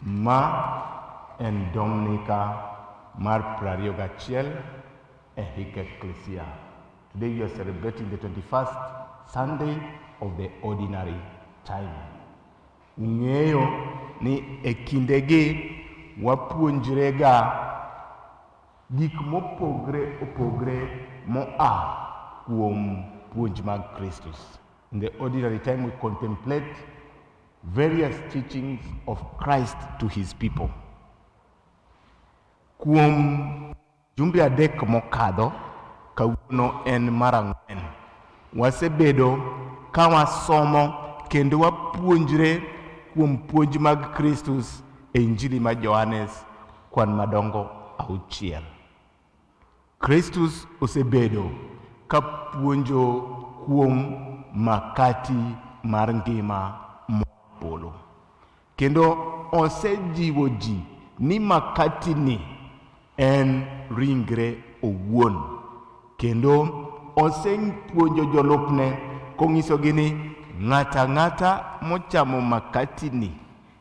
Ma en Dominica mar 21 e hik Ekklesia. Today we are celebrating the 21st Sunday of the ordinary time. Ung'eyo ni e kindegi wapuonjrega gik mopogre opogre moa kuom puonj mag Kristus. In the ordinary time, we contemplate various teachings of Christ to his people. Kuom jumbe adek mokadho, kawuono en mar ang'wen. Wasebedo ka wasomo kendo wapuonjre kuom puonj mag Kristus e Injili ma Johanes kwan madongo auchiel. Kristus osebedo ka puonjo kuom makati mar ngima moa polo, kendo osejiwo ji ni makatini en ringre owuon, kendo osepuonjo jolupne kong'isogi ni ng'ato ang'ata mochamo makatini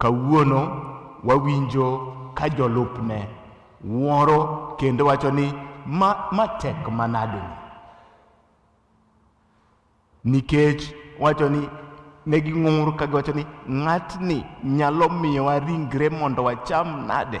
Kawuono wawinjo ka jolupne wuoro kendo wacho ni ma, ma tek manade ni nikech wacho ni ne ging'ur ka giwacho ni ng'atni nyalo miyowa ringre mondo wacham nade?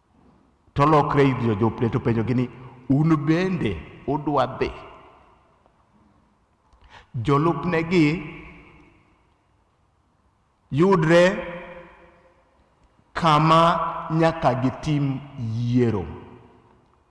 To olokre ir jojopne to openjogi ni, un bende udwa dhi? Jolupnegi yudre kama nyaka gitim yiero.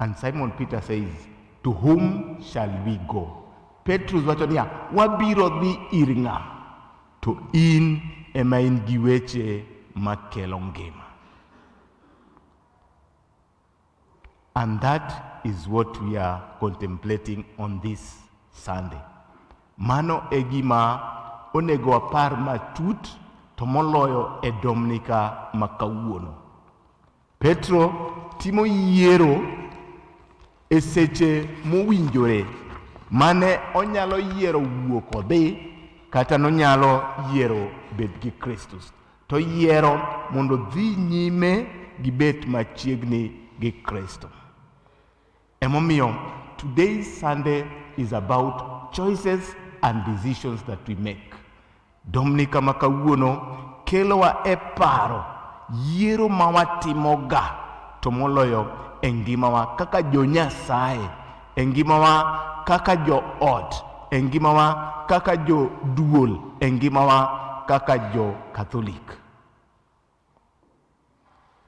And Simon Peter says, to whom shall we go? Petrus wacho niya, wabiro dhi ir ng'a? To in ema in gi weche makelo ngima. And that is what we are contemplating on this Sunday. Mano e gima onego wapar matut to moloyo e Dominika ma kawuono. Petro timo yiero e seche mowinjore mane onyalo yiero wuok odhi kata nonyalo yiero bet gi Kristus. To yiero mondo dhi nyime gi bet machiegni gi Kristo. Emomiyo today's Sunday is about choices and decisions that we make. Dominika ma kawuono kelowa e paro yiero ma watimoga to moloyo e ngimawa kaka jo Nyasaye, e ngimawa kaka jo ot, e ngimawa kaka jo duol, e ngimawa kaka jo Katholik.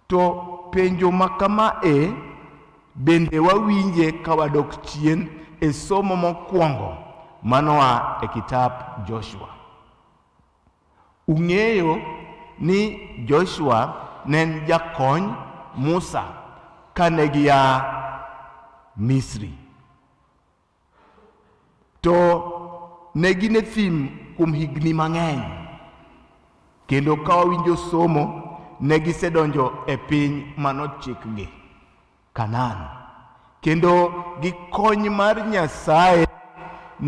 To penjo ma kama e bende wawinje ka wadok chien e somo mokwongo manoa e kitap Joshua. Ung'eyo ni Joshua ne en jakony Musa kane gia Misri. To ne gin e thim kuom higni mang'eny, kendo ka wawinjo somo, ne gisedonjo e piny manochikgi, Kanaan. Kendo gi kony mar Nyasaye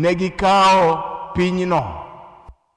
ne gikawo pinyno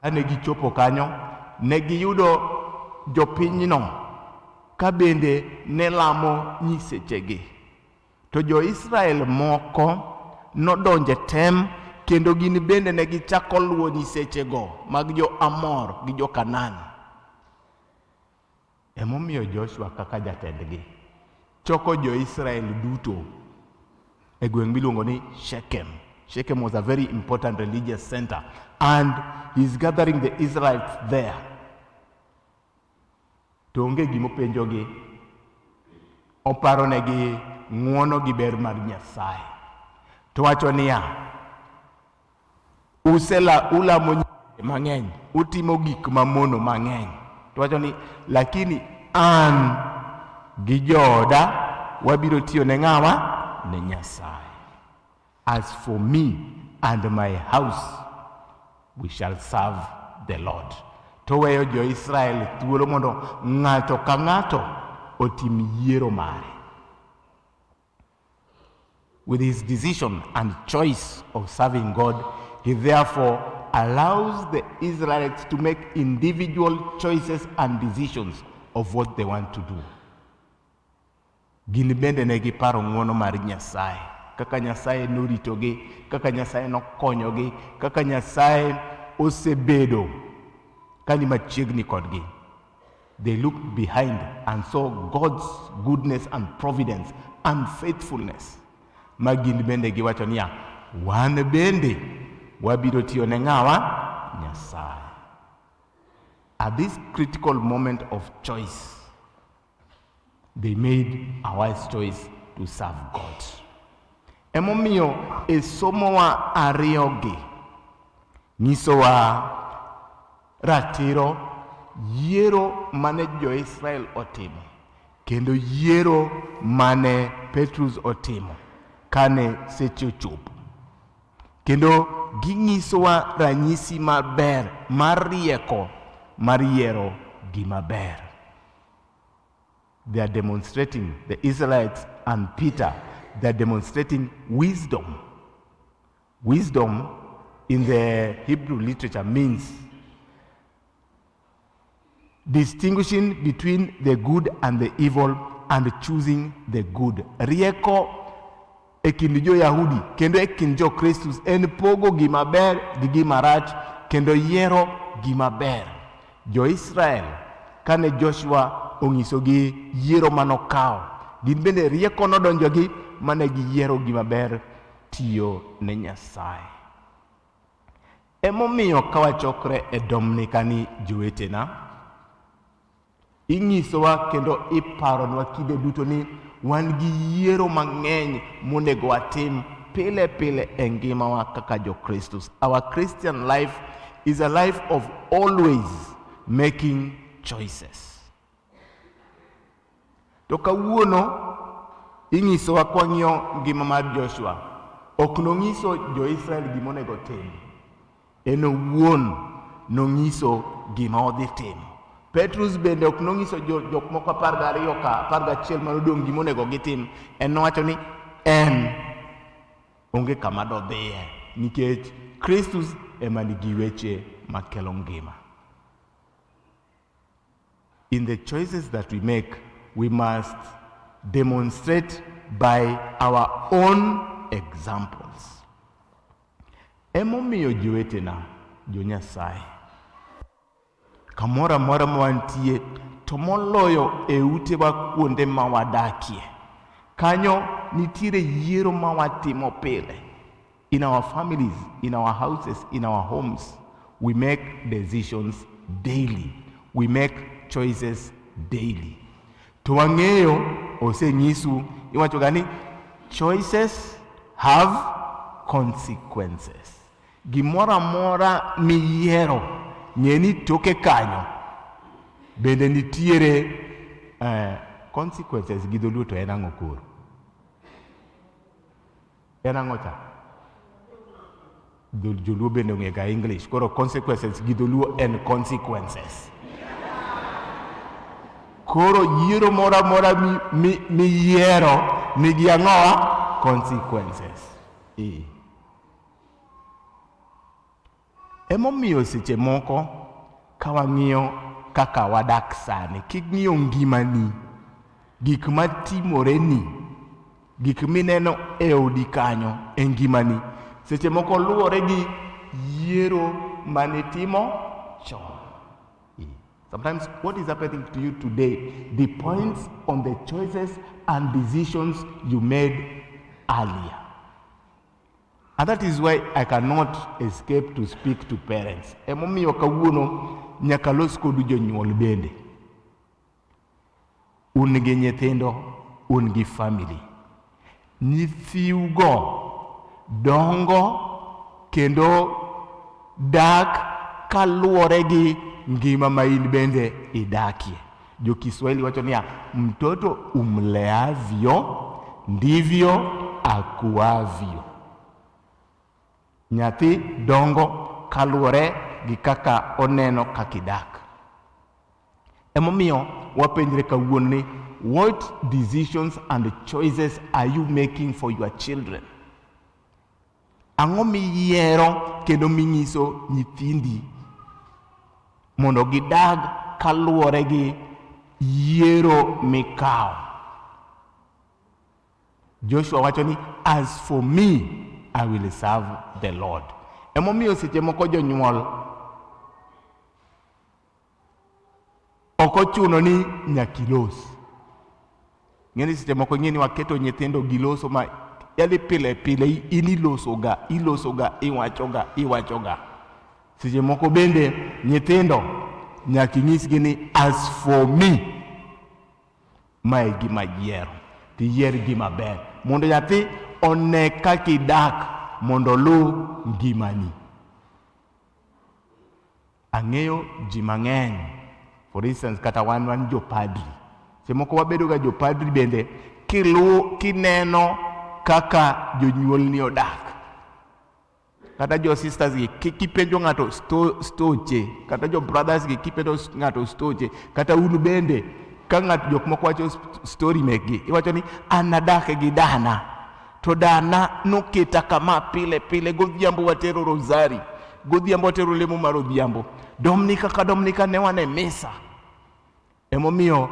Kane gichopo kanyo, ne giyudo jopinyno ka bende ne lamo nyisechegi. To jo-Israel moko nodonjo e tem kendo gin bende ne gichako luwo nyisechego mag jo-Amor gi jo-Kanaan. Emomiyo Joshua kaka jatendgi choko jo-Israel duto e gweng' miluongo ni Shechem. Shechem was a very important religious center and he's gathering the Israelites there. To onge gimopenjogi, oparonegi ng'uono gi ber mar Nyasaye. To wacho niya, usela ulamo nyinge mang'eny utimo gik mamono mang'eny to wacho ni lakini an gi jooda wabiro tiyo ne ng'awa ne nyasaye as for me and my house we shall serve the lord to weyo jo-israel thuolo mondo ng'ato ka ng'ato otim yiero mare With his decision and choice of serving God, he therefore allows the Israelites to make individual choices and decisions of what they want to do. Gin bende ne giparo ng'wono mar Nyasaye, kaka Nyasaye noritogi, kaka Nyasaye nokonyogi, kaka Nyasaye osebedo kani machiegni kodgi. They looked behind and saw God's goodness and providence and faithfulness. Ma gin bende giwacho niya, wan bende wabiro tiyo ne ng'awa? Nyasaye. At this critical moment of choice, they made a wise choice to serve God. Emomiyo e somowa ariyogi nyisowa Ratiro, yiero mane jo-Israel otimo kendo yiero mane Petrus otimo kane seche ochopo. Kendo ginyisowa ranyisi maber mar rieko mar yiero gima ber. They are demonstrating the Israelites and Peter, they are demonstrating wisdom. Wisdom in the Hebrew literature means distinguishing between the good and the evil and choosing the good. Rieko e kind jo-Yahudi kendo e kind jo-Kristus en pogo gima ber gi gima rach kendo yiero gima ber. Jo-Israel kane Joshua ong'isogi yiero manokawo, gin bende rieko nodonjogi mane giyiero gima ber tiyo ne Nyasaye. Emomiyo ka wachokre e Dominikani jowetena, inyisowa kendo iparonwa kinde duto ni wan gi yiero mang'eny monego watim pile pile e ngimawa kaka Jokristus. Our Christian life is a life of always making choices. To kawuono inyisowa kwang'iyo ngima mar Joshua, ok nong'iso jo-Israel gima onego otim. En owuon nong'iso gima odhi timo. Petrus bende ok nong'iso jok moko apar gariyo ka apar gachiel mane odong' gima onego gitim. En nowacho ni en onge kama dodhiye nikech Kristus ema nigi weche makelo ngima. In the choices that we make, we must demonstrate by our own examples. Emomiyo jowetena jo Nyasaye kamoro amora ma wantie to moloyo e utewa kuonde ma wadakie kanyo nitiere yiero ma watimo pile In our families, in our houses, in our homes, we make decisions daily. We make choices daily. To wang'eyo osenyisu iwacho gani choices have consequences. Gimoro amora miyiero ng'e ni toke kanyo bende nitiere eh, consequences gi dholuo to en ang'o koro En ang'o cha? Dho- Joluo bende ong'ega English. Koro consequences gi dholuo en consequences. Koro yiero moro amora mi- mi- miyiero nigi ang'owa consequences. Eh. Emomiyo seche moko ka wang'iyo kaka wadak sani, king'iyo ngimani, gik matimoreni, gik mineno e odi kanyo e ngimani, seche moko luwore gi yiero manitimo chon. Sometimes what is happening to you today depends on the choices and decisions you made earlier. And that is why I cannot escape to speak to parents. Emomiyo kawuono nyaka los kodu jonyuol bende. Un gi nyithindo, un gi family. Nyithiugo dongo kendo dak kaluwore gi ngima ma in bende idakie. Jo Kiswahili wacho niya, mtoto umleavyo ndivyo akuavyo. Nyathi dongo kaluwore gi kaka oneno kaka idak. Emomiyo wapenjre kawuono ni what decisions and choices are you making for your children? Ang'o miyiero kendo minyiso nyithindi mondo gidag kaluwore gi yiero mikawo? Joshua wacho ni as for me I will serve the Lord. Emomiyo seche moko jonyuol Ok ochuno ni nyaka ilos. Ng'eni seche moko ing'e ni waketo nyithindo giloso ma yali pile pile in ilosoga ilosoga iwachoga iwachoga. Seche moko bende nyithindo nyaka inyisgi ni as for me ma e gima yiero to iyier gima ber mondo nyathi one kaka idak mondo oluw ngimani. Ang'eyo ji mang'eny, for instance kata wan wan jopadri, seche moko wabedoga jopadri bende kiluwo kineno kaka jonyuolni odak kata jo sisters gi kipenjo ng'ato stoche kata jo brothers gi kipenjo ng'ato stoche kata un bende ka ng'ato jok moko wacho story mekgi iwacho ni an nadake gi dana To dana noketa kama pile pile, godhiambo watero rosari, godhiambo watero lemo mar odhiambo, Dominika ka Dominika ne wane misa. Emomiyo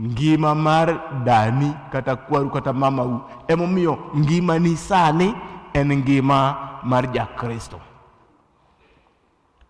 ngima mar dani kata kwaru kata mamau, emomiyo ngimani sani en ngima mar Jakristo.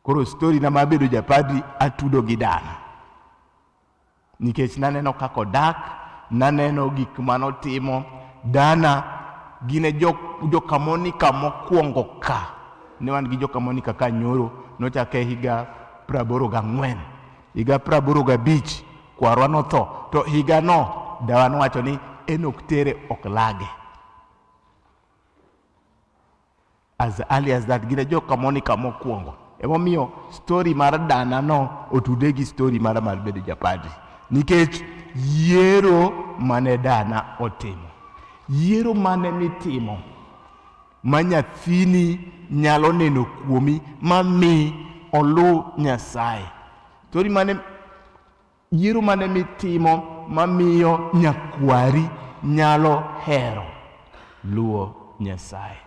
Koro stori na mar bedo japadri atudo gi dala, nikech naneno kaka odak, naneno gik mane otimo. Dana gin e jokamonika mokwongo ka, ne wan gi jokamonika ka nyoro, nochake higa praboro gang'wen. Higa praboro gabich kwarwa notho, to higano dawa nowacho ni en ok tere ok lage. as early as that gine jo kamonika mokwongo emomiyo story mar dana no otude gi story mar mar bedo japadi nikech yiero mane dana otimo yiero mane mitimo ma nyathini nyalo neno kuomi ma mi oluw nyasaye story mane Yiero mane mitimo mamiyo nyakwari nyalo hero luwo Nyasaye?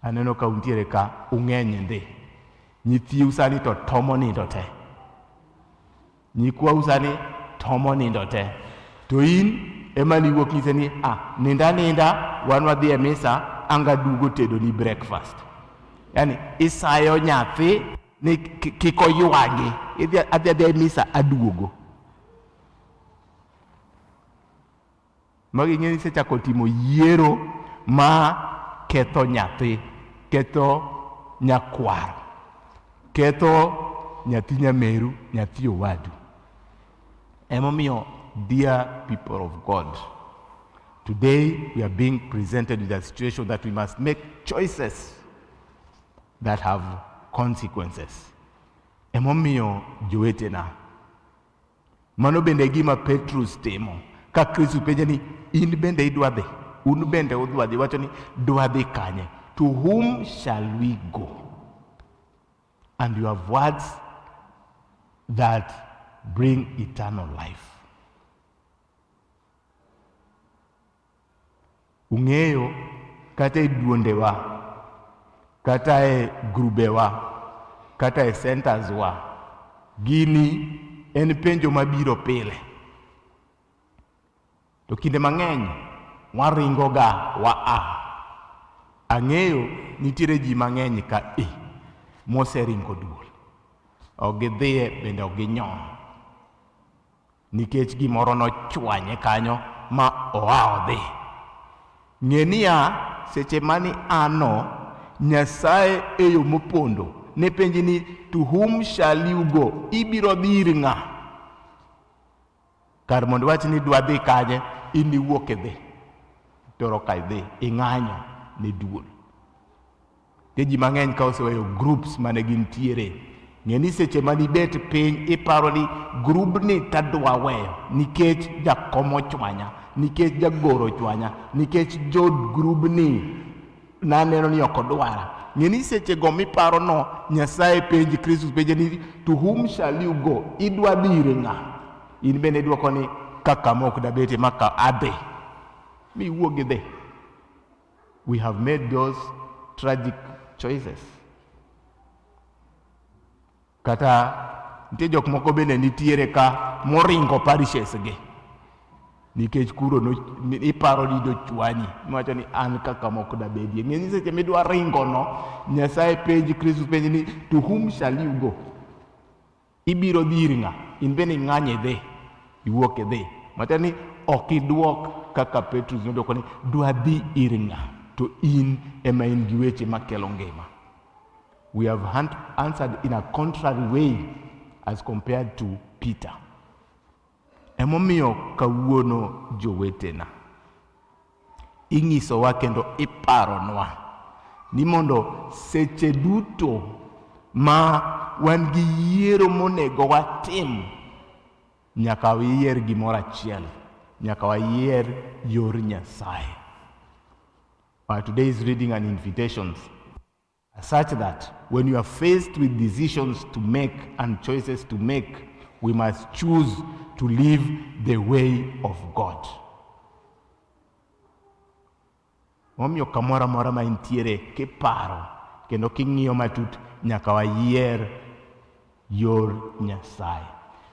Aneno ka untiere ka ung'eny ndi. Nyithiu sani to tomo nindo te. Nyikwau sani tomo nindo te. To in ema niwuok nyise ni ah, ninda ninda wan wadhi e misa anga dugo tedo ni breakfast. Yaani isayo nyathi ni kik oywagi idhi adhi adhi e misa aduogo magi ng'eni isechako timo yiero ma ketho nyathi ketho nyakwaro ketho nyathi nyameru nyathi owadu emomiyo dear people of god today we are being presented with a situation that we must make choices that have consequences. Emomiyo jowetena, mano bende gima Petrus timo ka Kristo penje ni in bende idwa dhi, un bende udwa dhi, wacho ni dwa dhi kanye? To whom shall we go? And you have words that bring eternal life. Ung'eyo, kata e duondewa, kata e grubewa, kata e centers wa, gini en penjo mabiro pile. To kinde mang'eny waringoga wa a. Ang'eyo nitiere ji mang'eny ka i moseringo duol, ok gidhiye bende ok ginyon. Nikech gimoro nochwanye kanyo ma oa odhi. Ng'e niya, seche mani ano, Nyasaye e yo mopondo ne penji ni to whom shall you go? Ibiro dhi ir ng'a? Kar mondo iwach ni dwa dhi kanye, in iwuok idhi. Toro ka idhi, ing'anyo ne duol. Ke ji mang'eny ka oseweyo groups mane gintiere, ng'e ni seche ma nibet piny iparo ni grubni tadwa weyo nikech jakom ochwanya, nikech jagoro ochwanya, nikech jod grubni naneno ni ok odwara. Ng'e ni sechego miparono Nyasaye penji, Kristus penje ni to whom shall you go? Idwa dire ng'a? In bende idwoko ni ka kama ok dabete ma ka adhi, miwuog idhi. We have made those tragic choices. Kata nitie jok moko bende nitiere ka moringo parishes gi nikech kuro no, iparo ni dochwanyi niwacho ni an kaka mok dabedie ng'eny seche midwa ringono nyasaye penji kristu penji ni to whom shall you go Ibiro dhi ir ng'a? In bende ing'any idhi, iwuok idhi. Matiende ni ok idwok kaka Petrus nodwoko ni dwadhi ir ng'a, to in ema in gi weche makelo ngima. We have answered in a contrary way as compared to Peter. Emomiyo kawuono jowetena, inyisowa kendo iparonwa ni mondo seche duto ma wan gi yiero monego watim, nyaka wayier gimoro achiel, nyaka wayier yor Nyasaye. Our today's reading and invitations Such that when you are faced with decisions to make and choices to make, we must choose to live the way of God. Momiyo kamoro amora ma intiere kiparo kendo king'iyo matut nyaka wayier yor Nyasaye.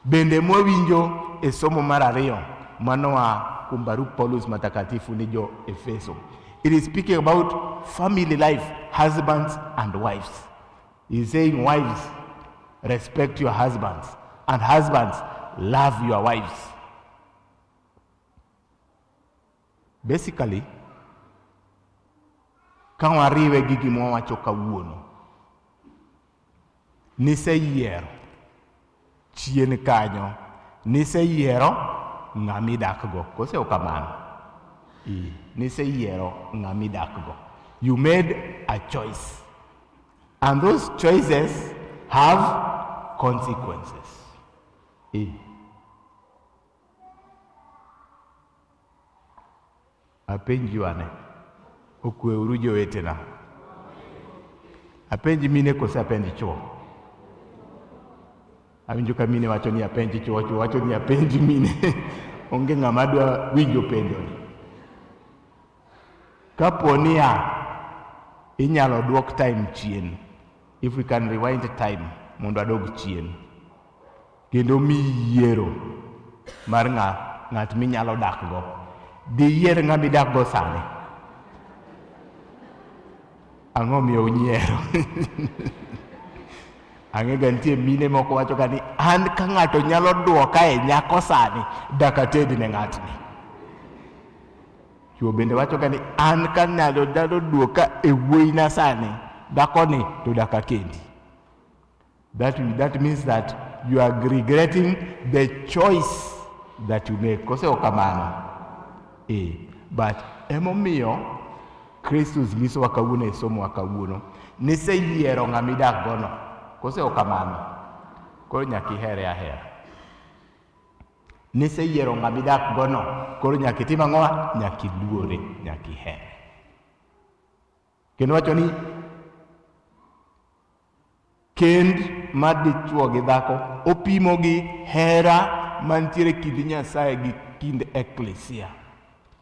Bende mwawinjo e somo mar ariyo manoa kuom barup Paulus matakatifu ni jo Efeso. It is speaking about family life, husbands and wives. He is saying wives respect your husbands and husbands love your wives. Basically, ka wariwe gi gima wawacho kawuono, niseyiero chien kanyo, niseyiero ng'ama idakgo. Kose ok kamano? Ee, niseyiero ng'ama idakgo. You made a choice. And those choices have consequences. Ee. Apenju ane, okweuru jowetena. Apenj mine kose apenj chwo? Awinjo ka mine wacho ni apenj chwo, chwo wacho ni apenj mine. Onge ng'ama dwa winjo penjoni. Kapo ni ya inyalo dwok time chien, if we can rewind time mondo adog chien, kendo mi yiero mar ng'a ng'at minyalo dakgo, diyier ng'ama idakgo sani? Ang'o miyo unyiero? Ang'ega nitie mine moko wachoga ni an ka ng'ato nyalo dwoka e nyako sani, dakatedne ng'atni. Chuo bende wachoga ni an ka nyalo dalo duoka e wuoyina sani dakoni to daka kendi. That, that means that you are regretting the choice that you make. Kose ok kamano? Eh, but emomiyo Kristus nyisowa kawuono e somowa kawuono niseyiero ng'ama idakgono. Kose ok kamano? Koro nyaka ihere ahera. Niseyiero ng'ama idak gono, koro nyaka itim ang'o? Nyaka iluore, nyaka iher. Kendo wacho ni kend ma dichuo gi dhako opimo gi hera mantiere kind Nyasaye gi kind eklesia.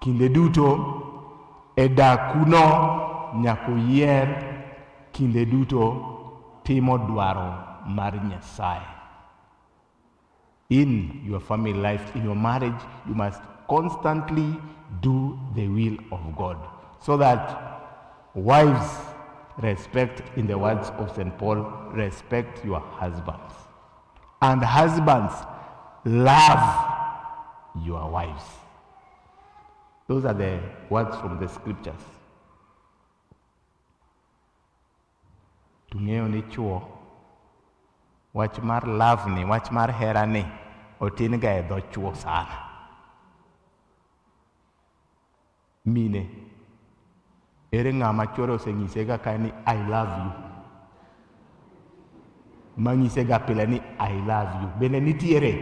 Kinde duto e dakuno nyaka uyier kinde duto timo dwaro mar Nyasaye. In your family life, in your marriage, you must constantly do the will of God so that wives respect, in the words of St. Paul, respect your husbands. And husbands, love your wives. Those are the words from the scriptures. Tung'eyo ni chuo, wach mar love ni, wach mar hera ni, otin ga e dho chuo sana. Mine, ere ng'ama chwore osenyisega kae ni I love you? Manyisega pile ni I love you. Bende nitiere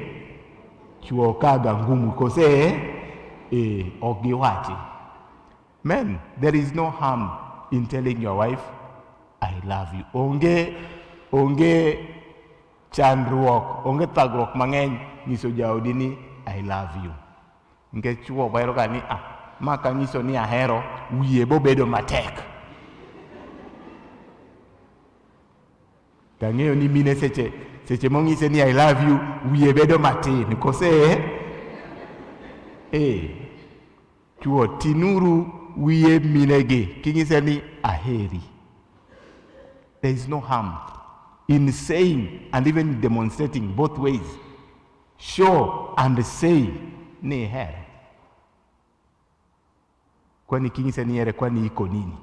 chwo kaga ngumu kose eh, ok giwachi. Men, there is no harm in telling your wife I love you. Onge onge chandruok, onge thagruok mang'eny nyiso jaodi ni I love you. Nikech chwo bwero ga ni ah, ma kanyiso ni ahero wiye bobedo matek. Tang'eyo ni mine seche seche mong'ise ni I love you wiye bedo matin kose eh chwo tinuru wiye minegi king'ise ni aheri there is no harm in saying and even demonstrating both ways Show and say ni ihere. Kwani kinyise ni ihere kwani iko nini?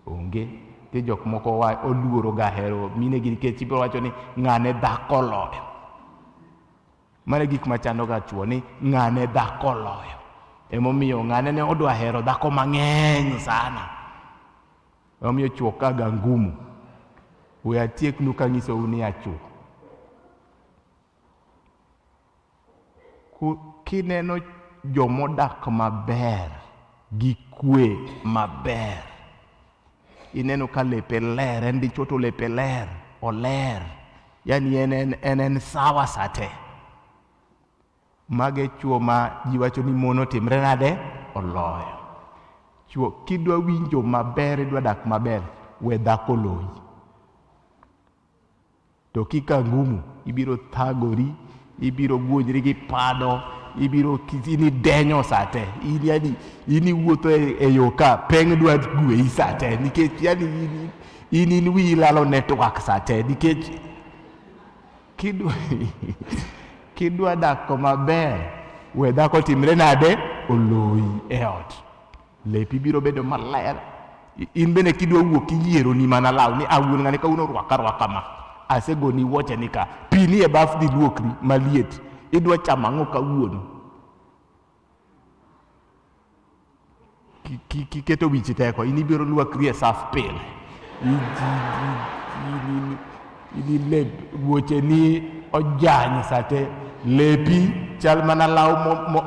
Onge. Ti jok moko wa oluoro ga hero mine gi nikech ibiro wacho ni ng'ane dhako loyo. Mane gik machando ga chuo ni ng'ane dhako loyo. Emomiyo ng'ane ne odwa hero dhako mang'eny sana. Emomiyo chuo ka ga ngumu. We atieknu kanyisou ni achuo. Kineno jomodak maber gi kwe maber, ineno ka lepe ler, en dichwo to lepe ler, oler, yani en en en en sawa sate. Mage chwo ma ji wacho ni mon otimre nade? Oloyo. Chwo kidwa winjo maber, idwa dak maber, we dhako loyi. To kika ngumu, ibiro thagori, ibiro guonjri gi pado, ibiro ini denyo sate, in yani ini wuotho e, e yo ka peng dwa gweyi sate nikech yani in in, in wiyi lalo network sate nikech kidwa kidwa dak koma ber we dhako timre nade oloyi e ot. Lepi biro bedo maler. In bende kidwa wuok iyiero ni mana law ni awuon ng'ani ka uno rwaka rwaka ma. Asego ni woche ni ka. Pi ni e baf dhi luokri maliet. Idwa chama ng'o ka wuon. Kiketo wichi teko. In ibiro luokri e saf pile. Idi lep wuocheni ojany sate lepi chal mana law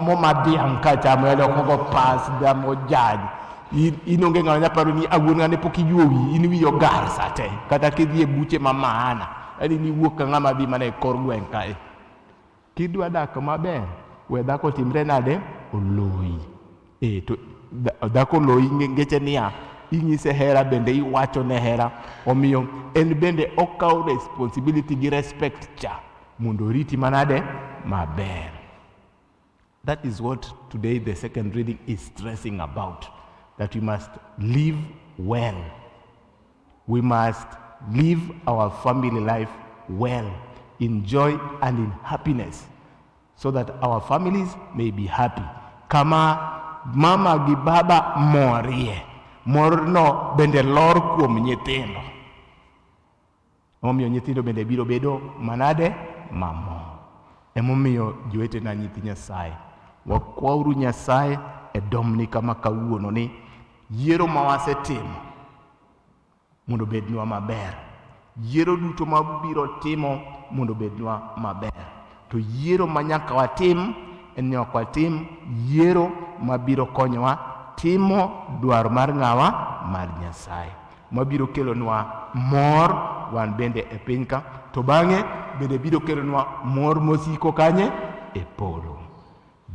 moma dhiang' ka chamo yalo kogo pas dam ojany in onge ng'ano nyaparo ni awuon ng'ane pok iyuo wi in wi ogar sate kata kidhi e buche ma maana yani niwuok ka ng'ama dhi mana e kor gweng' kae Kidwa dak maber, we dhako timre nade? Oloyi. E, to dhako oloyi ngeche niya, inyise hera bende iwacho ne hera. Omiyo en bende okawo responsibility gi respect cha mondo oriti manade maber. That is what today the second reading is stressing about, that we must live well. We must live our family life well, in joy and in happiness, so that our families may be happy. Kama mama gi baba morie, morno bende lor kuom nyithindo. Emomiyo nyithindo bende biro bedo manade? Mamor. Emomiyo jowetena nyithi Nyasaye, wakwauru Nyasaye e Dominika ma kawuono ni yiero ma wasetimo mondo bednwa maber. Yiero duto ma biro timo mondo bednwa maber. To yiero ma nyaka watim en ni ok watim yiero ma biro konyowa timo dwaro mar ng'awa? Mar Nyasaye. mabiro kelonwa mor wan bende e piny ka to bang'e bende biro kelonwa mor mosiko kanye e polo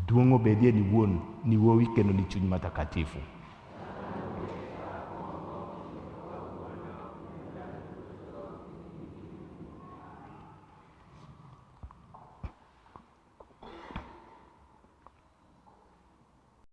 duong' obedie ni wuon ni wuowi kendo ni chuny matakatifu